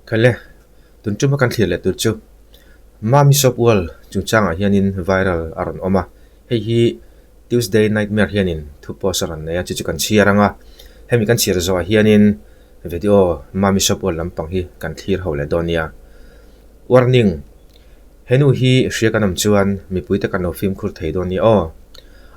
Khale tun chuma kan thlir leh tur chu Mami Shop World chungchangah hianin viral a rawn awm a, hei hi Tuesday Nightmare hianin thu post a rawn nei a, chu chu kan chhiar ang a, hemi kan chhiar zawhah hianin video Mami Shop World lampang hi kan thlir ho leh dawn nia. Warning. He nu hi hria kan awm chuan mipuite kan lo fimkhur thei dawn nia aw.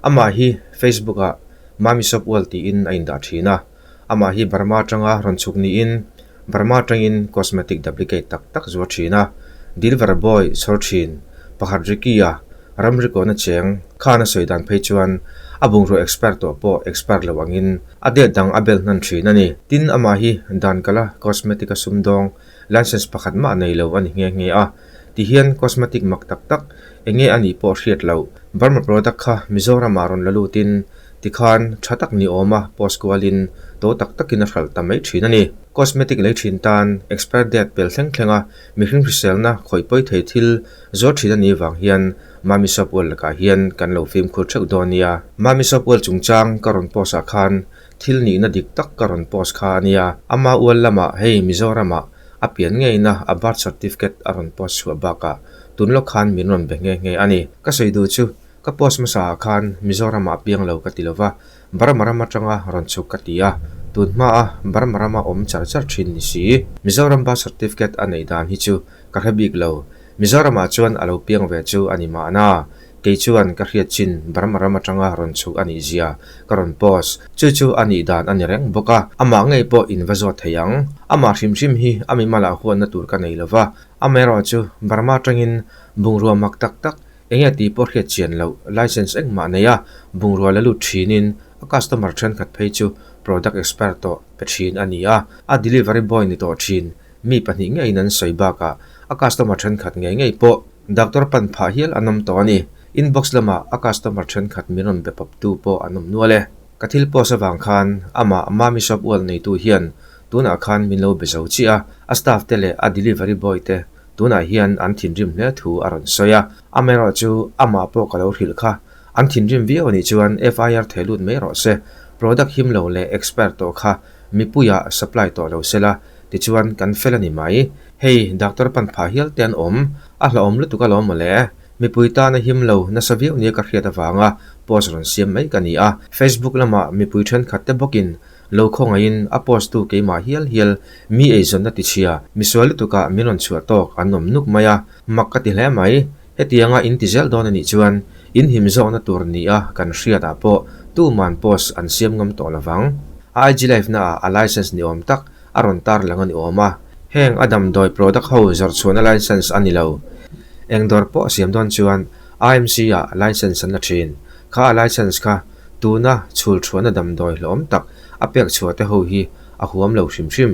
Amah hi Facebook ah Mami Sopual tiin a indah thin a, amah hi Burma atanga rawn chhuk niin Burma atangin cosmetic duplicate tak tak zuar thin a, Dilver Boy chhawr thin, pakhat Ricky a, ram rikawna cheng khan a sawi dan phei chuan a bungraw expire tawh pawh expire lo angin a date dang a bel hnan thin a ni. Tin amah hi dan kala cosmetic a sum dawng License pakhat mah nei lo a ni nghe nghe a. Ti hian cosmetic mak tak tak, enge a nih pawh hriat lo. Burma product kha Mizoramah rawn la lutin ti khan tha tak ni awm a post kualin to tak takin a hralh ta mai thin a ni. Cosmetic lei thin tan expire date pel thleng thleng a mi hring hriselna khawih pawi thei thil zuar thin a nih vang hian Mami Soap World lakah hian kan lo fimkhur theuh dawn nia. Mami Soap World chungchang ka rawn post ah khan Thil nihna dik tak ka rawn post kha a nia. Ama ual lamah hei Mizoramah a pian ngeiina a birth certificate a rawn post chhuah bakah tun lawk khan min rawn be nghe nghe a ni. Ka sawi duh chu, ka post hmasa ah khan Mizoramah a piang lo ka ti lova, Burma ram atanga rawn chhuk ka ti a, tun hma a Burma ram a awm char char thin ni si. Mizoram birth certificate a neih dan hi chu ka hre bik lo, Mizoramah chuan a lo piang ve chu a ni mahna. Kei chuan ka hriat chin bar maram atanga rawn chhuh a nih zia ka rawn post. Chu chu a nih dan a ni reng bawk a, amah ngei pawh in va zawt thei ang. Amah hrim hrim hi a mimalah huanna tur ka nei lo va, a mah erawh chu Burma atangin bungrua mak tak tak, eng nge tih pawh hriat chian loh, license engmah nei a bungrua la lut thinin a customer thenkhat phei chu product expire tawh pe thin a ni a, a delivery boy ni tawh thin mi pahnih ngeiin an sawi bakah a customer thenkhat ngei ngei pawh Doctor pan phah hial an awm tawh a ni. Inbox lamah a customer thenkhat min rawn be pawp tu pawh an awm nual e. Ka thil post avang khan amah Mummy Shop ualh neitu hian tunah khan min lo be zo chiah a, a staff te leh a delivery boy te tunah hian an thinrim hle thu a rawn sawi a. Amaherawh chu amah pawh ka lo hrilh kha. An thinrim viau nih chuan FIR thei lut mai rawh se. Product him lo leh expire tawh kha mipuiah supply tawh lo se la. Tichuan kan fel a ni mai. Hei, Doctor pan phah hial te an awm. A hlauhawm lutuk a lo mawle. Mipui tan a him lo, nasa viau nia ka hriat avanga post rawn siam mai ka ni a. Facebook lama mipui thenkhat te bawkin lo khawngaihin a post tu keimah hial hial mi eizawnna tichhia misual lutuka min rawn chhuah tawk an awm nuk mai a, mak ka ti hle mai. Hetiang a inti zelh dawn anih chuan in him zawhna tur ni a kan hriat ah pawh tu man post an siam ngam tawh lo vang. A IG live na ah a license ni awm tak a rawn tar lang ani awm a, heng a damdawi product ho zawrh chhuahna license ani lo. Eng dawr pawh siam dawn chuan IMC ah license an la thin kha a license kha tuna chhul chhuahna damdawi hlawm tak a pek chhuah te ho hi a huam lo hrim hrim.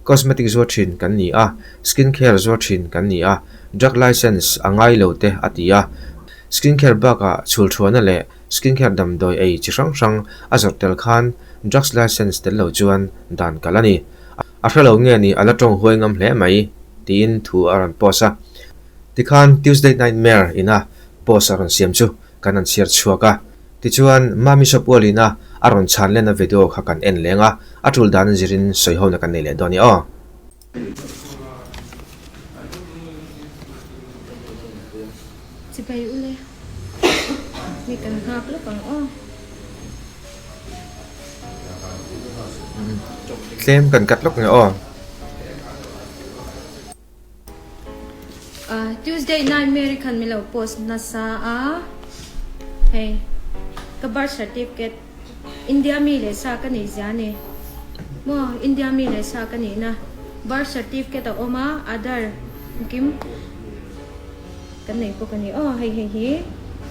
Cosmetic zuar thin kan ni a, Skin care zuar thin kan ni a, Drug Licence a ngai lo te a ti a. Skin care bakah chhulthuana leh Skin care damdawi ei chi hrang hrang a zawrh tel khan Drugs Licence tel lo chuan dan kal a ni. A hre lo nge ni a la tawng huai ngam hle mai tiin thu a rawn post a. Tikhan Tuesday Nightmare ina post a rawn siam chu kan han chhiar chhuak a, Tichuan, Mami Sapualina a rawn chhanlen a video kha kan en leng a, a tul dan zirin sawi hona kan nei leh dawn a ni aw. Chibai u le, mi kan nghak lawk ang aw. Tlem kan kat lawk nge aw. Uh, Tuesday night Mary khan milo post nasa a hei ka birth certificate India mi le sa ka nei zia ni mo India mi le sa ka nei na birth certificate a oma other kim kan nei po ka ni oh hei hei hi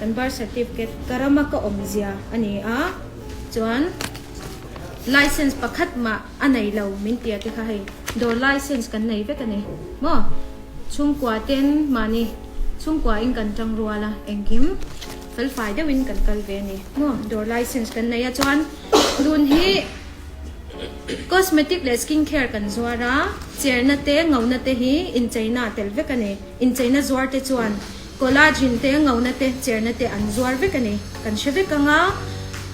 kan birth certificate karama ka om zia ani a chuan license pakhat ma a nei lo min tia te kha hei dawr lai sense kan nei vek a ni maw chhungkua ten mahni chhungkua in kan tang rual a engkim felfai deuh in kan kal ve a ni maw dawr lai sense kan nei a chuan dun hi cosmetic leh skin care kan zuar a cherna te ngona te hi incheina tel vek a ni incheina zuar te chuan collagen te ngona te cherna te an zuar vek a ni kan hre vek anga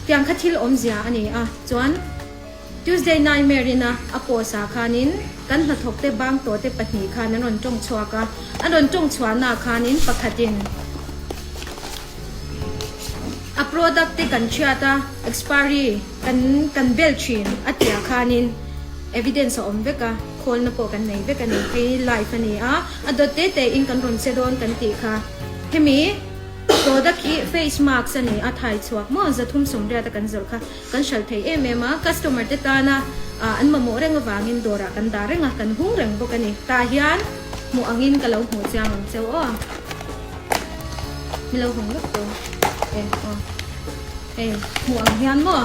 tiang kha thil awmzia a ni a chuan Tuesday Nightmare-ina a post ah khanin kan hnathawkte bang tawhte pahnih khan an rawn tawng chhuak a, an rawn tawng chhuahna ah khanin pakhatin a product te kan hriat a, expiry kan kan bel thin a tih ah khanin evidence a awm vek a, khawlna pawh kan nei vek a ni, hei hi live a ni a, a dawt te te in kan rawn che dawn kan tih kha hemi product hi face mask a ni a, thai chhuak maw za thum sawm riat a kan zawrh kha. Kan hral thei em em a, customer te tana an mamawh reng avangin dawrah kan dah reng a, kan hung reng bawk a ni. Tah hian hmuh angin ka lo hmuh chiang ang che aw. Milo hawng lutuk tawh e aw. Hei hmuh ang hian maw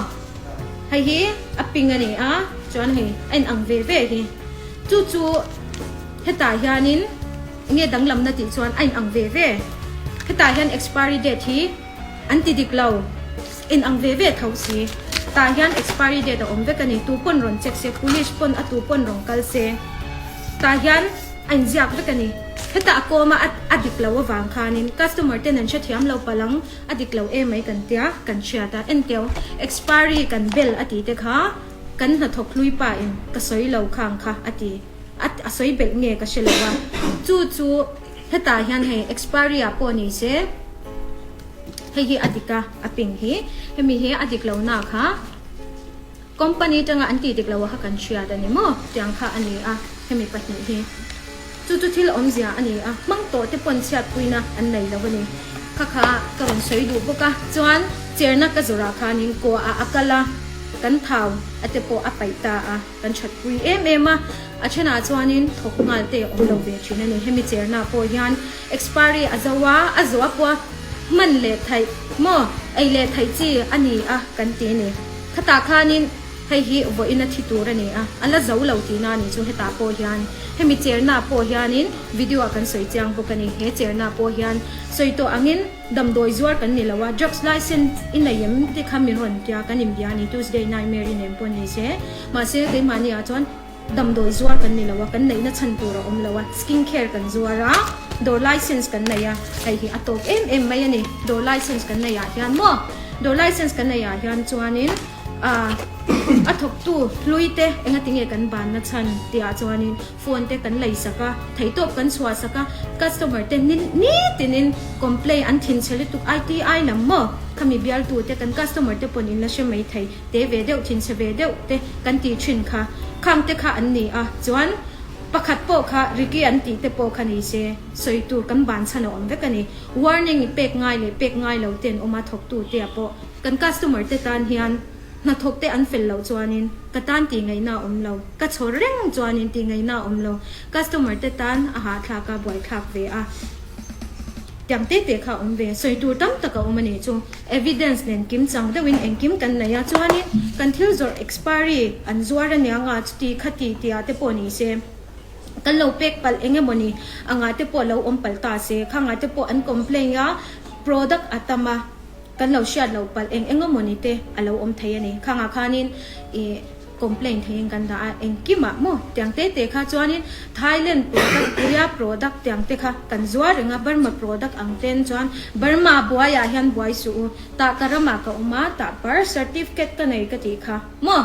hei hi a pink a ni a, chuan hei a in ang ve ve hi. Chu chu hetah hianin enge danglamna tih chuan a in ang ve ve. Hetah hian expiry date hi. An ti dik lo. In ang ve ve tho si. Tah hian expiry date a awm vek a ni. Tu pawn rawn check se. Police pawn a tu pawn rawn kal se. Tah hian a in ziak vek a ni. Heta a kawm a, a dik lo avang khanin customer ten an hre thiam lo palh ang. A dik lo e mai kan tia kan hriat a. Enteo expiry kan bel a ti te kha kan hnathawk hlui pa in ka sawi lo khang kha a ti. A a sawi belh nge ka hre lo a. Chu chu hetah hian hei expiry ah pawh ni se hei hi a dik a, a pin hi. Hemi hi a dik lo na kha company tanga an ti dik lo a kha kan hriat a ni maw tiang kha a ni a hemi pahnih hi. Chu chu thil awmzia a ni a, hmang tawh te pawn chhiatpuina an nei lo a ni. Kha kha ka rawn sawi duh bawk a. Chuan cherna ka zawrah khanin kawah ah a kal a, kan thau a te pawh a paih ta a. Kan thatpui em em a, a thenah chuanin thawk nghal te awm lo ve thin a ni. Hemi chernaah pawh hian expiry a zo a, a zo a pawh hman leh theih maw, ei leh theih chi a ni a kan ti a ni. Khatah khanin hei hi vawiin a thi tur a ni a, a la zo lo tihna a nih chu hetah pawh hian hemi chernaah pawh hianin video-ah kan sawi chiang bawk a ni. He chernaah pawh hian sawi tawh angin. Damdawi zuar kan ni lo a, drugs license i nei em te kha min rawn tia kan in bia a ni, Tuesday night Mary nen pawh ni se. Mahse keimahni ah chuan damdawi zuar kan ni lo a, kan neihna chhan tur a awm lo a, skin care kan zuar a, dawr license kan nei a, hei hi a tawp em em mai a ni, dawr license kan nei ah hian maw? Dawr license kan nei ah hian chuanin a thawktu hlui te engatinge kan banna chhan tih ah chuanin, Phone te kan lei sak a, theihtawp kan chhuah sak a, customer te ni ni tin in complain an thin chhe lutuk ai ti ai lam maw? Khami bial tu te kan customer te pawn in la hre mai thei te ve deuh thin chhe ve deuh te kan ti thin kha khang te kha an ni a chuan pakhat pawh kha Ricky an tih te pawh kha ni se sawi tur kan ban chhan a awm vek a ni warning i pek ngai leh pek ngai lo ten awm a thawk tu te ah pawh kan customer te tan hian Hnathawk te an fel loh chuanin ka tan tingaihna a awm lo. Ka chhawr reng chuanin tingaihna a awm lo. Customer te tan a hahthlak a, buaithlak ve a, tiang te te kha a awm ve. Sawi tur tam tak a awm a nih chu. Evidence nen kim chang deuhin engkim kan neih a, chuanin kan thil zawrh expiry an zuar a nia nga, chuti kha ti tia te pawh ni se. Kan lo pack palh eng emaw ni angah te pawh lo awm palh ta se. Khangah te pawh an complain a, product a tam a. Kan lo hriat loh palh eng eng emawni te a lo awm thei a ni. Khangah khanin ih complain theiin kan dah a, engkim ah maw tiang te te kha chuanin Thailand product, Korea product tiang te kha kan zuar reng a, Burma product ang ten chuan Burma buai ah hian buai suh u, tah ka ram ah ka awm a, tah birth certificate ka nei ka tih kha maw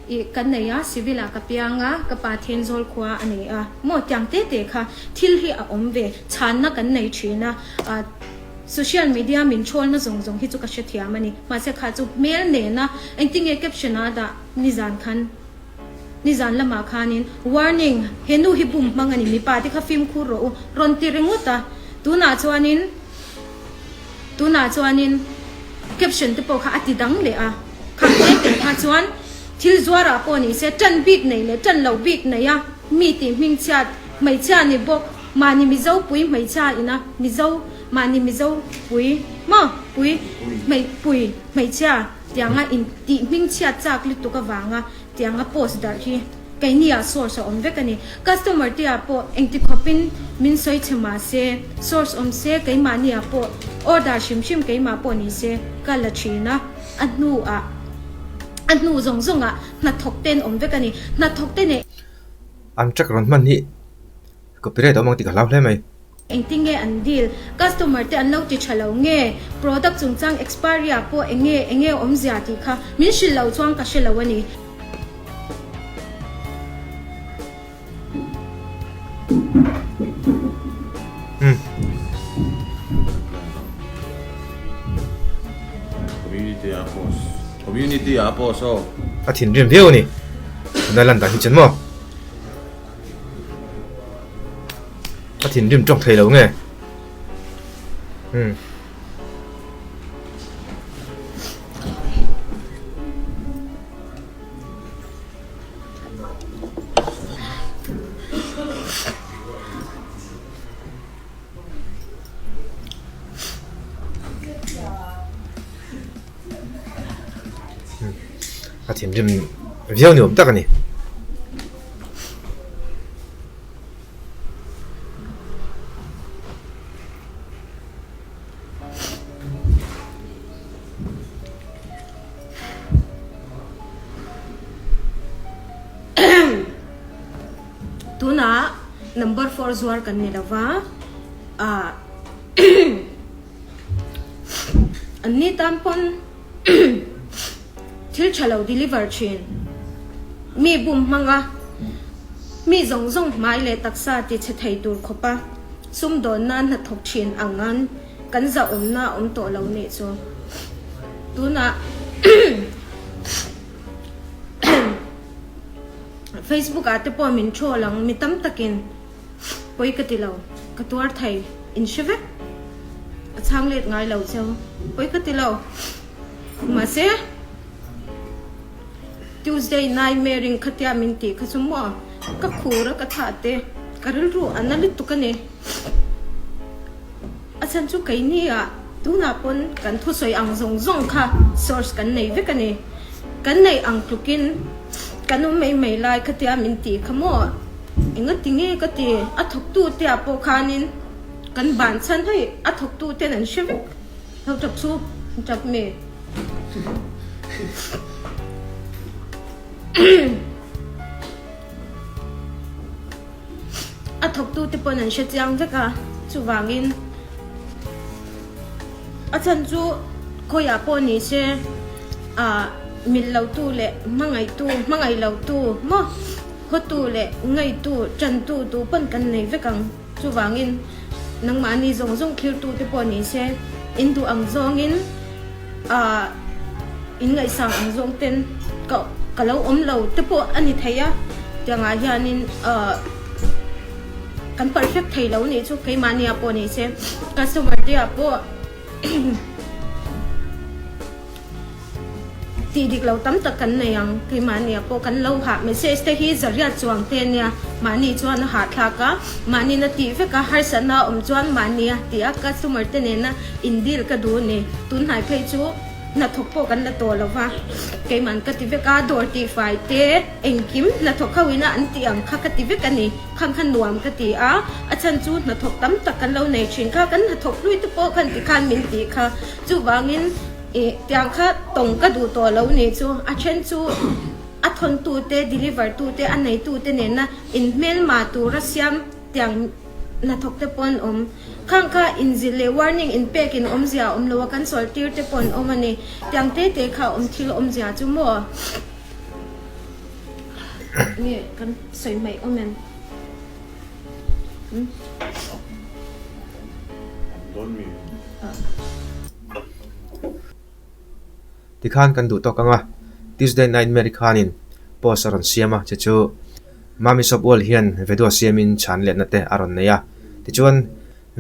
ih kan nei a, civil ah ka piang a, ka pa thian zawl khua a nei a maw tiang te te kha thil hi a awm ve chhanna kan nei thin a. Social media min chhawlna zawng zawng hi chu ka hrethiam a ni. Mahse kha chu hmel nena engtin nge caption a dah nizan khan nizan lamah khanin Warning, he nu hi bum hmang a ni, mipa te kha fimkhur rawh u, rawn ti ringawt a. Tunah chuanin tunah chuanin caption te pawh kha a ti dang leh a. Kha he te kha chuan thil zuarah pawh nise tan bik nei leh tan lo bik neia mi tih hming chhiat hmeichhia ni bawk. Mahni Mizo pui hmeichhia ina Mizo mahni Mizo pui maw pui hmei pui hmeichhia tianga in tih hming chhiat chak lutuk avanga tianga post darh hi keiniah source a awm vek a ni. Customer te ah pawh engti khawpin min sawi chhe mahse source awm se keimahni ah pawh order hrim hrim keimah pawh ni se ka la thin a. A hnu ah a hnu zawng zawng ah hnathawk ten awm vek a ni. Hnathawk te nen. An track rawn hman hi Copyright a awm ang tik a hlau hle mai. Engtin nge an deal? Customer te an lo ti tha lo nge? Product chungchang expiry ah pawh enge enge awm zia tih kha min hrilh loh chuang ka hre lo a ni. Community ah post. Community ah a post aw. A thinrim viau a ni. Tuna a lan dan hi chan maw? a thin rim tawk thei lo nge hmm a thin rim viau ni awm tak a ni. number four zuar kan ni lova a an ni tan pawn thil tha lo deliver thin mi bum hmanga mi zawng zawng hmai leh taksa tichhe thei tur khawpa sum dawn na hnathawk thin angan kan zah awm na awm tawh lo nih chu tuna facebook ah te pawh min thu alang mi tam takin pawi ka ti lo ka tuar thei in hre vek a chhang let ngai lo cheu pawi ka ti lo mahse Tuesday nai me ring khatia min ti kha chu mo ka khura ka tha te ka ril ru an ali tuk ani a chan chu kei ni a tuna pon kan thu soi ang zong zong kha source kan nei vek ani kan nei ang tukin kan um mai mai lai khatia min ti kha mo Enga ti nge ka ti? A thawktu te ah pawh khanin kan ban chhan hei, a thawktu ten an hre vek. Ho tap chu tap mi. A thawktu te pawn an hre chiang vek a, chuvangin a chhan chu khawi ah pawh ni se a mil lo tu leh hmangaih tu, hmangaih lo tu maw? Hawtu leh ngaihtu, ṭantu duh pawn kan nei vek ang. Chuvangin, nangmahni zawng zawng thirtute pawh ni se, in duh ang zawngin in ngaihsang ang zawng ten ka lo awm lo te pawh a ni thei a. Tiangah hianin kan perfect thei lo nih chu keimahniah pawh ni se, customer teah pawh. Tih dik lo tam tak kan nei ang, keimahniah pawh kan lo hah message te hi Zariat Chuang te nia, mahni chuan a hahthlak a, mahniin a tih vek a, harsatna awm chuan mahni a ti a, customer te nena in deal ka duh a ni, tunhnai phei chu hnathawk pawh kan la tawh lo va, keimahan ka ti vek a, dawr tihfai te engkim hnathawk ho ina an tih ang kha ka ti vek a ni, khang kha nuam ka ti a, a chhan chu hnathawk tam tak kan lo nei thin kha, kan hnathawk hlui te pawh khan ti khan min tih kha. Chuvangin, i tiang kha tawng ka duh tawh lo nih chu a then chu a thawntute, deliver tute, a neitute nena in hmelmah tura siam tiang hnathawkte pawh an awm. Khang kha inzir leh warning in pek in awmzia a awm lo a, kan chawlhtirte pawh an awm a ni. Tiang te te kha awm thil awmzia chu maw nge kan sawi hmaih awm em? tikhan kan duh tawk ang a tuesday night match ri khanin post a rawn siam a che chu mami shop world hian video siam in chhan let na te a rawn nei a tichuan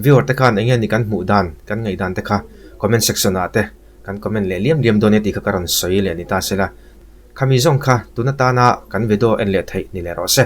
viewer te khan eng nge ni kan hmuh dan kan ngaih dan te kha comment section ah te kan comment leh liam liam dawn e tih kha ka rawn sawi leh ni ta se la khami zawng kha tun atana kan video en leh theih ni leh rawh se.